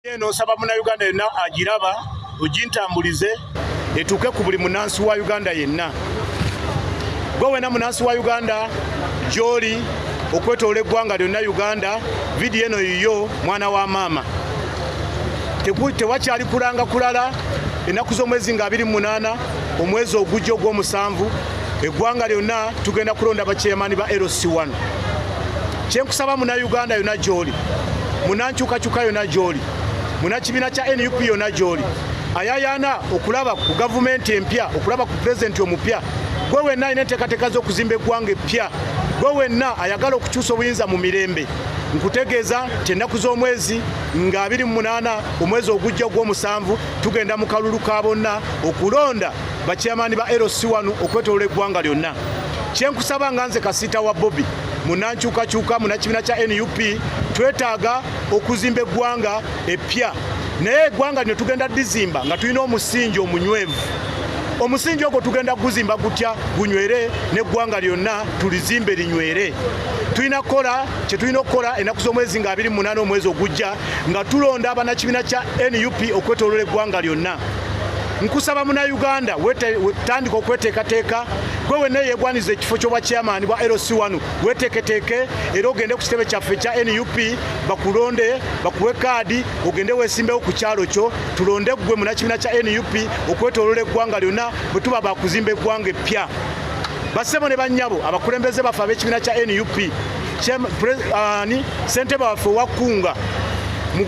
eno nsaba munauganda yenna agiraba ogintambulize etuuke ku buli munansi wa uganda yenna gwe wena munansi wa uganda gyoli okwetoola eggwanga lyonna uganda vidiyo eno yiyo mwana wa maama tewakyali kulanga kulala ennaku z'omwezi nga 28 omwezi ogujja ogw'omusanvu eggwanga lyonna tugenda kulonda bakyeyamaani ba lc1 kyenkusaba muna uganda yona gyoli munankyukakyuka yona gyoli muna kibiina kya nup yona gyoli ayayana okulaba ku gavumenti empya okulaba ku pulezidenti omupya gwe wenna alina enteekateeka z'okuzimba eggwanga eppya gwe wenna ayagala okukyusa obuyinza mu mirembe nkutegeeza nti ennaku z'omwezi nga 28 omwezi ogujja ogw'omusanvu tugenda mu kalulu ka bonna okulonda bakyamaani ba LC wano okwetolola eggwanga lyonna kyenkusaba nga nze kasiita wa bobi munankyukakyuka munakibiina kya nup twetaaga okuzimba eggwanga eppya naye eggwanga lino tugenda dizimba nga tulina omusingi omunywevu omusingi ogwo tugenda kuguzimba gutya gunywere n'eggwanga lyonna tulizimbe linywere tulina kukola kye tulina okukola ennaku z'omwezi nga 28 omwezi ogujja nga tulonda abanakibiina kya nup okwetolola eggwanga lyonna nkusaba munauganda tandika okweteekateeka gwe wenna yegwaniza ekifo kyobwa chairman bwa lc wano weteeketeeke era ogende ku kitebe kyaffe ekya nup bakulonde bakuwe kaadi ogende wesimbewo ku kyalo kyo tulonde gwe munakibiina kya nup okwetolola eggwanga lyonna bwe tuba bakuzimba eggwanga eppya basebo ne banyabo abakulembeze baffe ab'ekibiina kya nup ani ssentebe waffe owakkunga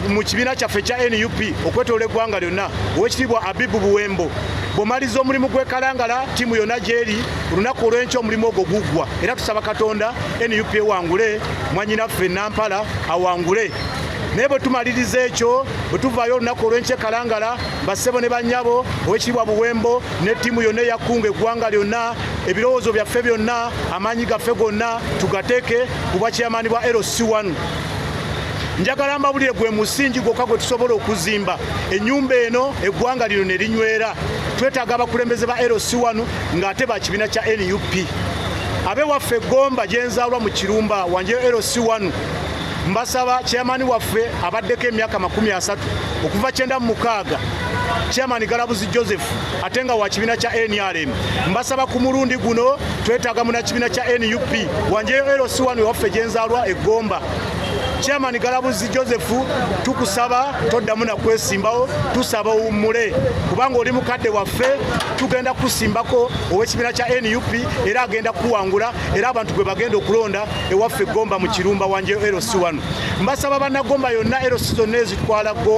mu kibiina kyaffe ekya nup okwetoola eggwanga lyonna owekitiibwa abibu buwembo bwomaliza omulimu gwekalangala tiimu yonna gyeri olunaku olwenkya omulimu ogwo guggwa era tusaba katonda nup ewangule mwanyinaffe nampala awangule naye bwe tumaliriza ekyo bwe tuvaayo olunaku olwenkya ekalangala bassebo ne bannyabo owekitiibwa buwembo ne tiimu yonna eyakkunga eggwanga lyonna ebirowoozo byaffe byonna amaanyi gaffe gonna tugateeke ku bwakyamaani bwa LC1 njagala mbabulire gwe musingi gwokka gwe tusobola okuzimba ennyumba eno eggwanga lino ne linywera twetaaga abakulembeze ba LC1 ng'ate ba kibiina kya nup abe waffe gomba gyenzaalwa mu kirumba wanje LC1 mbasaba chairman waffe abaddeko emyaka makumi asatu okuva kyenda mu mukaaga chairman galabuzi joseph ate nga wa kibiina kya nrm mbasaba ku mulundi guno twetaaga munakibiina kya nup wanjeyo lc wanu ewaffe gyenzaalwa eggomba chairman galabuzi joseph tukusaba toddamu nakwesimbawo tusaba owummule kubanga oli mukadde waffe tugenda kusimbako ow'ekibiina kya nup era agenda kuwangula era abantu gwe bagenda okulonda ewaffe gomba mu kirumba wanjeyo lc wanu mbasaba bannagomba yonna lc zonna ezitwala gomba